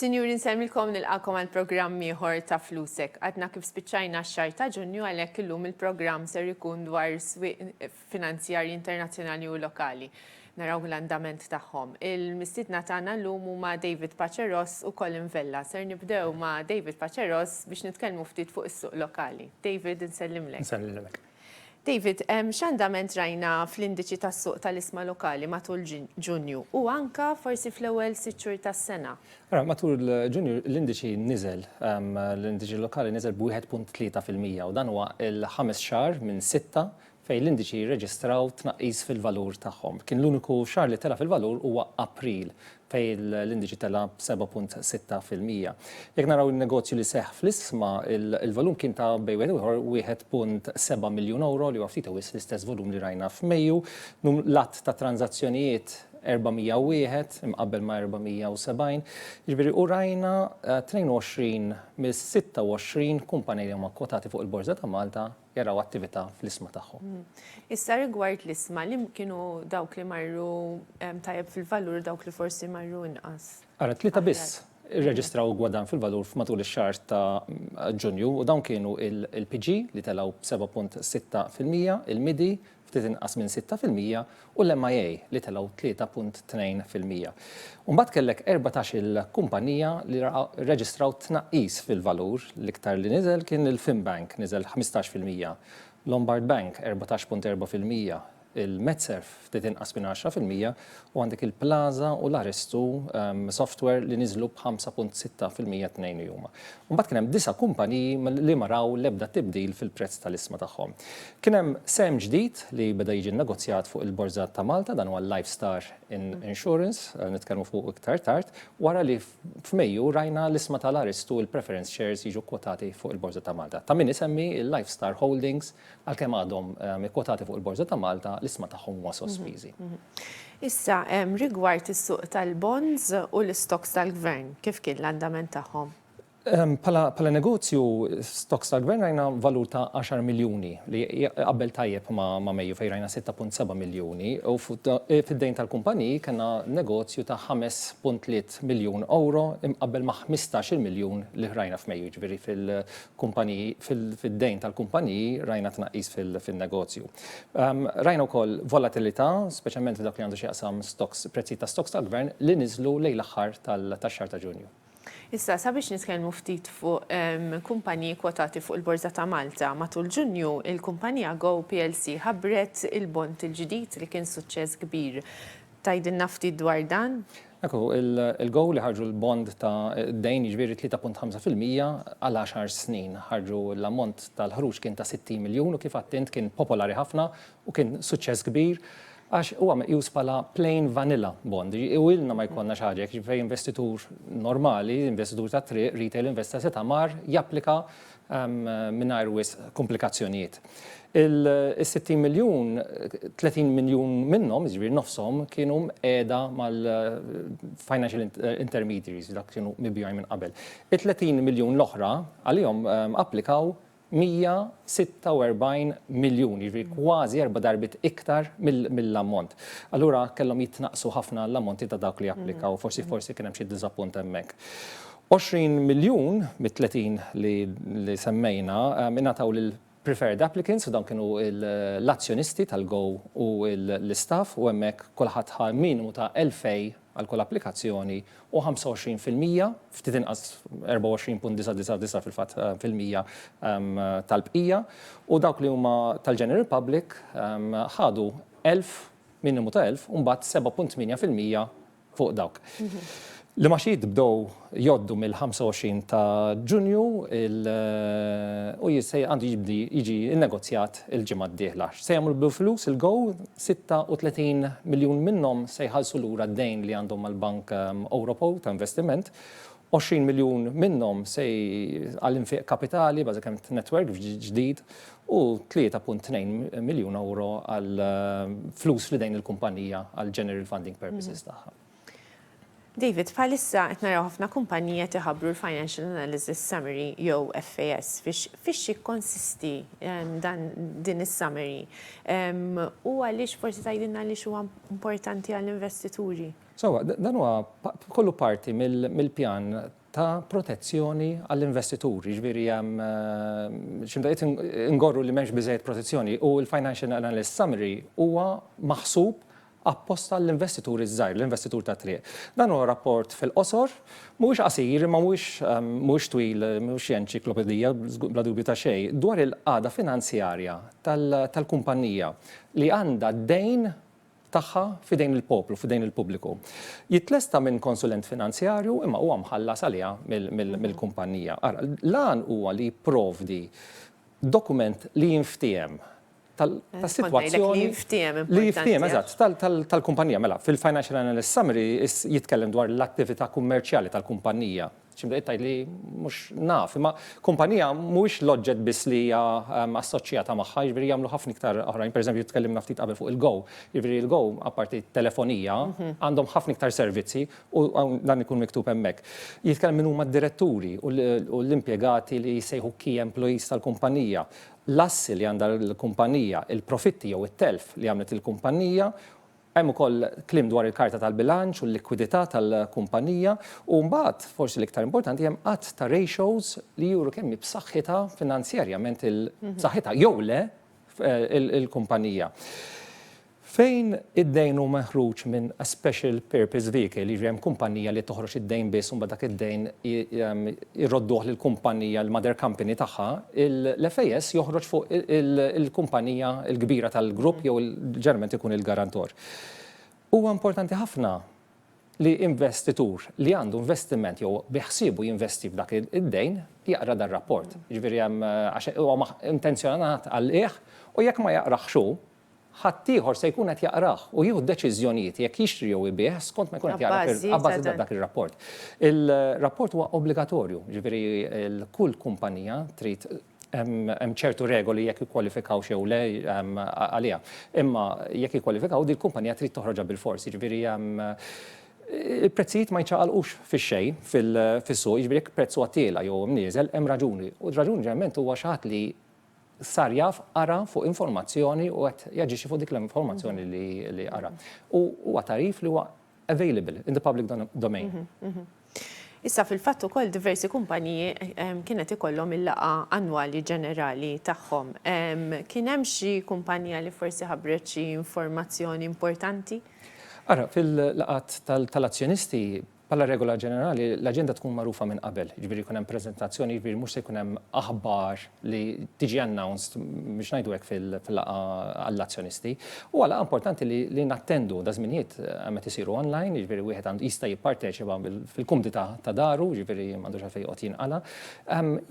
Sinjuri nsemmilkom nilqakom għal programm ieħor ta' Flusek. Għadna kif spiċċajna x-xahar ta' Ġunju għalhekk illum il-programm ser ikun dwar swieq finanzjarji internazzjonali u lokali. Naraw l-andament tagħhom. Il-mistiedna tagħna llum huma David Paceros u Colin Vella. Ser nibdew ma' David Paceros biex nitkellmu ftit fuq is-suq lokali. David, insellimlek. Insellimlek. David, x'andament rajna fl-indiċi tas-suq tal-isma lokali matul Ġunju u anke forsi fl-ewwel sitt xhur tas-sena? Ara, matul Ġunju l-indiċi niżel, l-indiċi lokali niżel b'1.3 fil-mija u dan huwa l-ħames xahar minn sitta fejn l-indiċi jirreġistraw tnaqqis fil-valur tagħhom. Kien l-uniku xahar li tela' fil-valur huwa April, fejn l-indiċi tela' b'7.6 fil-mija. Jekk naraw in-negozju li seħħ fl-isma, il-volum kien ta' bejn wieħed u ieħor 1.7 miljun ewro, li huwa ftit u wisq l-istess volum li rajna f'Mejju. L-għadd ta' tranżazzjonijiet 401 imqabbel ma' 470, jiġifieri u rajna 22 mis-26 kumpanija li huma kkwotati fuq il-Borża ta' Malta jaraw attività fl-isma tagħhom. Issa rigward l-isma, li kienu dawk li marru tajjeb fil-valur dawk li forsi marru inqas? Ara, tlieta biss irreġistraw gwadann fil-valur f'matul ix-xahar ta' Ġunju u dawn kienu il-PG li telgħu b'7.6%, il-MIDI ftit inqas minn sitta fil-mija, u l-MIA li telgħu tlieta punt tnejn fil-mija. U mbagħad kellek erbatax-il kumpanija li rreġistraw tnaqqis fil-valur, l-iktar li niżel kien il-Finbank, niżel ħmistax fil-mija, Lombard Bank erbatax punt erba' fil-mija, il-Metserv ftit inqas minn għaxra fil-mija, U għandek il-Plaza u l-Arestu Software li niżlu b'5.6 fil-mija t-tnejn li huma. U mbagħad kien hemm disa' kumpaniji li ma raw l-ebda tibdil fil-prezz tal-isma tagħhom. Kien hemm sehem ġdid li beda jiġi nnegozjat fuq il-Borża ta' Malta, dan huwa l-Life Star Insurance, nitkellmu fuqu iktar tard, wara li f'Mejju rajna l-isma tal-Arestu, il-Preference Shares jiġu kkwotati fuq il-Borża ta' Malta. Ta' min isemmi l-Life Star Holdings Għalkemm għadhom ikkwotati fuq il-Borża ta' Malta, l-isma tagħhom huma sospiżi. Issa, rigward is-suq tal-bonds u l-istokks tal-Gvern, kif kien l-andament tagħhom? Bħala negozju, stokks tal-Gvern rajna valur ta' għaxar miljuni li jaqbel tajjeb ma' Mejju fejn rajna sitta punt seba' miljuni u fid-dejn tal-kumpaniji kellna negozju ta' ħames punt tliet miljun ewro imqabbel ma' ħmistax-il miljun li rajna f'Mejju, jiġifieri kumpaniji, fid-dejn tal-kumpaniji rajna tnaqqis fin-negozju. Rajna wkoll volatilità, speċjalment f'dak li għandu x'jaqsam stocks, prezzijiet ta' stocks tal-gvern li niżlu lejn l-aħħar tax-xahar ta' Ġunju. Issa, sabiex nitkellmu ftit fuq kumpaniji kwotati fuq il-Borża ta' Malta, matul Ġunju, il-kumpanija Go plc ħabbret il-bond il-ġdid li kien suċċess kbir. Tgħidilna ftit dwar dan? Hekk hu, il-GO li ħarġu l-bond ta' dejn, jiġifieri 3.5 fil-mija għal għaxar snin. Ħarġu l-ammont tal-ħruġ kien ta' 60 miljun u kif għidt int kien popolari ħafna u kien suċċess kbir għax huwa meqjus bħala plain vanilla bond. U ilna ma jkollna xi ħaġa hekk fejn investitur normali, investitur tat-triq, retail investor setgħa mar japplika mingħajr wisq kumplikazzjonijiet. Is-60 miljun, 30 miljun minnhom, jiġifieri nofshom, kienu mqiegħda mal-financial intermediaries, dawk kienu mibjugħin minn qabel. It-30 miljun l-oħra, għalihom applikaw 146 miljun, jiġifieri kważi erba' darbiet iktar mill-ammont. Allura kellhom jitnaqqsu ħafna l-ammonti ta' dawk li applikaw, forsi kien hemm xi diżappunt hemmhekk. 20 miljun mit-30 li semmejna ingħataw lil preferred applicants u dawn kienu l-azzjonisti tal-Go u l-istaff u hemmhekk kulħadd ħa minimu ta' elfej għal kull applikazzjoni u 25 fil-mija, ftit inqas, 24.999 fil-fatt, fil-mija tal-bqija u dawk li huma tal-general public ħadu elf, minimu ta' elf, u mbagħad 7.8 fil-mija fuq dawk. L-imgħaxijiet bdew jgħoddu mill-25 ta' Ġunju u għandu jibdi jiġi nnegozjat il-ġimgħa d-dieħla. X'se jagħmlu bil-flus il-GO? 36 miljun minnhom se jħallsu lura d-dejn li għandhom mal-Bank Ewropew ta' Investiment 20 miljun minnhom se għal infiq kapitali, bażikament netwerk ġdid, u 3.2 miljun ewro għal flus f'idejn il-kumpanija għal general funding purposes tagħha. David, bħalissa qed naraw ħafna kumpaniji qed iħabbru l-Financial Analysis Summary jew FAS. Fiex jikkonsisti din is-summary? U għaliex forsi tgħidilna għaliex huwa importanti għall-investituri? Sewwa, dan huwa kollu parti mill-pjan ta' protezzjoni għall-investituri, jiġifieri hemm xi mdaqqiet ingorru li m'hemmx biżżejjed protezzjoni u l-financial analyst summary huwa maħsub apposta għall-investituri ż-żgħir, l-investitur tat-triq. Dan huwa rapport fil-qosor, mhuwiex qasir imma mhuwiex twil, mhux xi enċiklopedija, bla dubju ta' xejn, dwar il-qagħda finanzjarja tal-kumpannija li għandha d-dejn tagħha f'idejn il-poplu, f'idejn il-pubbliku. Jitlesta minn konsulent finanzjarju imma huwa mħallas għaliha mill-kumpannija. Ara, l-għan huwa li jipprovdi dokument li jinftiehem tas-sitwazzjoni. Li jinftiehem, eżatt, tal-kumpannija. Mela, fil-Financial Analyst Summary jitkellem dwar l-attività kummerċjali tal-kumpannija Xi bdejt tgħid li mhux naf, imma kumpanija mhuwiex l-oġġett biss li hija assoċjata magħha, jiġifieri jagħmlu ħafna iktar oħrajn. Pereżempju, tkellimna ftit qabel fuq il-Go. Jiġifieri il-Go, apparti t-telefonija, għandhom ħafna iktar servizzi u dan ikun miktub hemmhekk. Jitkellem min huma d-diretturi u l-impjegati li jissejħu key employees tal-kumpanija, l-assi li għandha l-kumpanija, il-profitti jew it-telf li għamlet il-kumpanija, Hemm ukoll kliem dwar il-karta tal-bilanċ u l-likwidità tal-kumpanija u mbagħad, forsi l-iktar importanti, hemm għadd ta' ratios li juru kemm hi b'saħħitha finanzjarjament il, b'saħħitha jew le, il-kumpanija. Fejn id-dejn hu meħruġ minn a special purpose vehicle, jiġifieri hemm kumpanija li toħroġ id-dejn biss u mbagħad dak id-dejn jrodduh lill-kumpannija, il-mother company tagħha, l-FAS joħroġ fuq il-kumpannija l-kbira tal-grupp jew ġeneralment ikun il-garantor. Huwa importanti ħafna li investitur li għandu investiment jew biħsiebu jinvesti f'dak id-dejn jaqra dar-rapport. Jiġifieri hemm għax huwa intenzjonat għal qiegħ u jekk ma jaqrahx hu, ħaddieħor se jkun qed jaqrah u jieħu deċiżjonijiet jekk jixtri jew ibigħ skont ma jkun qed jara fil-, abbażi ta' dak ir-rapport. Il-rapport huwa obbligatorju, jiġifieri kull kumpanija trid, hemm ċertu regoli jekk jikkwalifikawx jew le għaliha. Imma jekk jikkwalifikaw, din il-kumpanija trid toħroġha bilfors. Jiġifieri il-prezzijiet ma jiċċaqalqux fix-xejn fis-suq, jiġifieri jekk prezz huwa tiela' jew imnieżel, hemm raġuni. U r-raġuni ġeneralment huwa xi ħadd li sar jaf, qara fuq informazzjoni u qed jaġixxi fuq dik l-informazzjoni li qara. U huwa tarif li huwa available in the public domain. Issa fil-fatt ukoll diversi kumpaniji kienet ikollhom il-laqgħa annwali ġenerali tagħhom. Kien hemm xi kumpanija li forsi ħabbret xi informazzjoni importanti? Ara, fil-laqgħat tal-azzjonisti Bħala regola ġenerali, l-aġenda tkun magħrufa minn qabel, jiġifieri jkun hemm preżentazzjoni, jiġifieri mhux se jkun hemm aħbar li tiġi announced, biex ngħidu hekk, fil-laqgħa għall-azzjonisti. Huwa laqgħa importanti li nattendu, daż-żminijiet hemm qed isiru online, jiġifieri wieħed għandu jista' jipparteċipa fil-kumdità ta' daru, jiġifieri m'għandux għalfejn joqgħod jinqala'.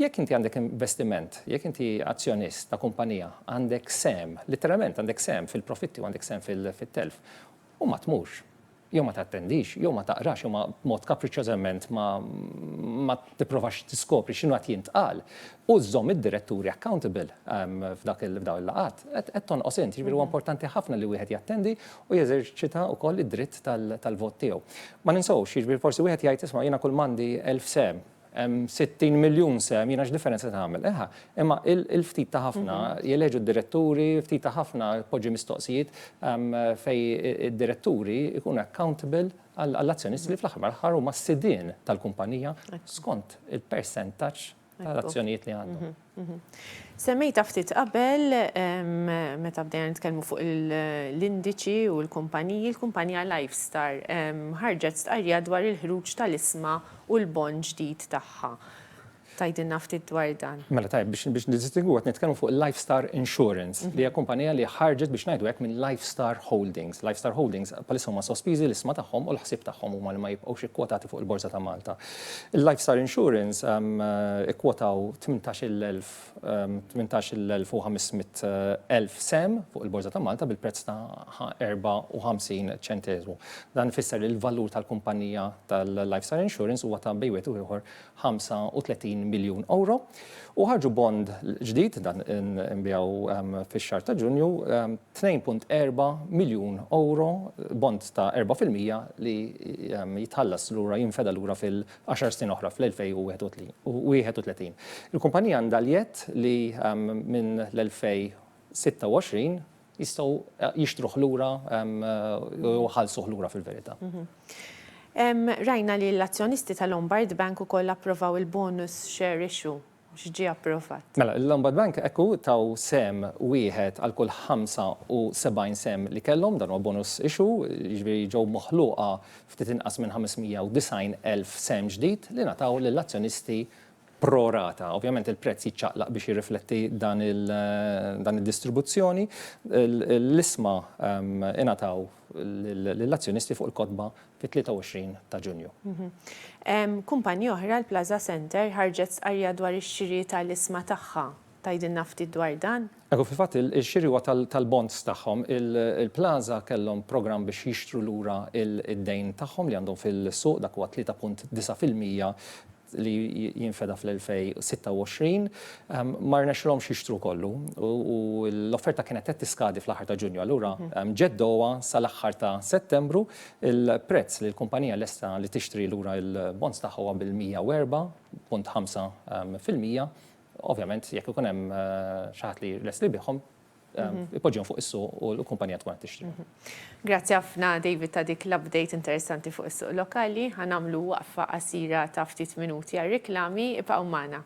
Jekk inti għandek investiment, jekk inti azzjonist ta' kumpanija, għandek sehem, litteralment għandek sehem fil-profitti u għandek sehem fit-telf, u ma tmurx, jew ma tattendix, jew ma taqrax, jew ma b'mod kapriċċożament ma ma tipprovax tiskopri x'inhu qed jintqal u żżomm id-diretturi accountable f'dak f'dawn il-laqgħat, qed qed tonqos int. Jiġifieri huwa importanti ħafna li wieħed jattendi u jeżerċita wkoll id-dritt tal-vot tiegħu. Ma ninsewx, jiġifieri forsi wieħed jgħid isma' jiena kull m'għandi elf sehem, hemm 60 miljun sehem, jiena x'differenza se tagħmel? Eħa, imma il-ftit ta' ħafna jeleġu d-diretturi, ftit ta' ħafna poġġi mistoqsijiet fej id-diretturi jkunu accountable għall-azzjonisti li fl-aħħar mal-aħħar huma s-sidien tal-kumpanija skont il-persentaġġ tal-azzjonijiet li għandhom. Semmejtha ftit qabel meta bdejna nitkellmu fuq l-indiċi u l-kumpaniji, il-kumpanija Lifestar ħarġet stqarrija dwar il-ħruġ tal-isma u l-bond ġdid tagħha. Tgħidilna ftit dwar dan? Mela tajjeb, biex niddistingwu qed nitkellmu fuq il-Lifestar Insurance, li hija kumpanija li ħarġet biex ngħidu hekk minn Lifestar Holdings. Lifestar Holdings bħalissa huma sospiżi l-isma tagħhom u l-ħsieb tagħhom huma li ma jibqgħux ikkwotati fuq il-Borża ta' Malta. Il-Lifestar Insurance ikkwotaw 18,500 sehem fuq il-Borża ta' Malta bil-prezz ta' 54 ċenteżmu. Dan ifisser li l-valur tal-kumpannija tal-Lifestar Insurance huwa ta' bejn wieħed u ieħor €35 miljun u ħarġu bond ġdid, dan inbigħu fix-xahar ta' Ġunju, 2.4 miljun ewro bond ta' erba' fil-mija li jitħallas lura, jinfeda lura fil-għaxar snin oħra, fl-2031. Il-kumpanija għandha l-jedd li minn l-2026 jistgħu jixtruh lura jew iħallsuh lura fil-verità. Rajna li l-azzjonisti ta' Lombard Bank ukoll approvaw il-bonus share issue. mhux ġie approvat. Mela, il-Lombard Bank hekk hu taw sehem wieħed għal kull 75 sehem li kellhom, dan huwa bonus issue, jiġifieri ġew moħluqa ftit inqas minn 590,000 sehem ġdid li ngħataw lill-azzjonisti pro rata. Ovvjament il-prezz jiċċaqlaq biex jirrifletti dan id-distribuzzjoni. L-isma ingħataw lill-azzjonisti fuq il-kotba fit-23 ta' Ġunju. Kumpanija oħra, l-Plaza Center, ħarġet stqarrija dwar ix-xiri tal-isma tagħha. Tgħidilna ftit dwar dan? Iva, fil-fatt ix-xiri huwa tal-bonds tagħhom. Il-Plaza kellhom programm biex jixtru lura d-dejn tagħhom li għandhom fil-suq, dak huwa 3.9 fil-mija li jinfeda fl-2026, ma rnexxilhomx jixtru kollu u l-offerta kienet qed tiskadi fl-aħħar ta' Ġunju, allura ġeddewha sal-aħħar ta' Settembru. Il-prezz li l-kumpanija lesta li tixtri lura l-bonds tagħha huwa bil-104.5 fil-mija. Ovvjament, jekk ikun hemm xi ħadd li lest li jbiegħhom, ipoġġihom fuq is-suq u l-kumpanija tkun qed tixtri. Grazzi ħafna David ta' dik l-update interessanti fuq is-suq lokali. Ħa nagħmlu waqfa qasira ta' ftit minuti għar-riklami. Ibqgħu magħna.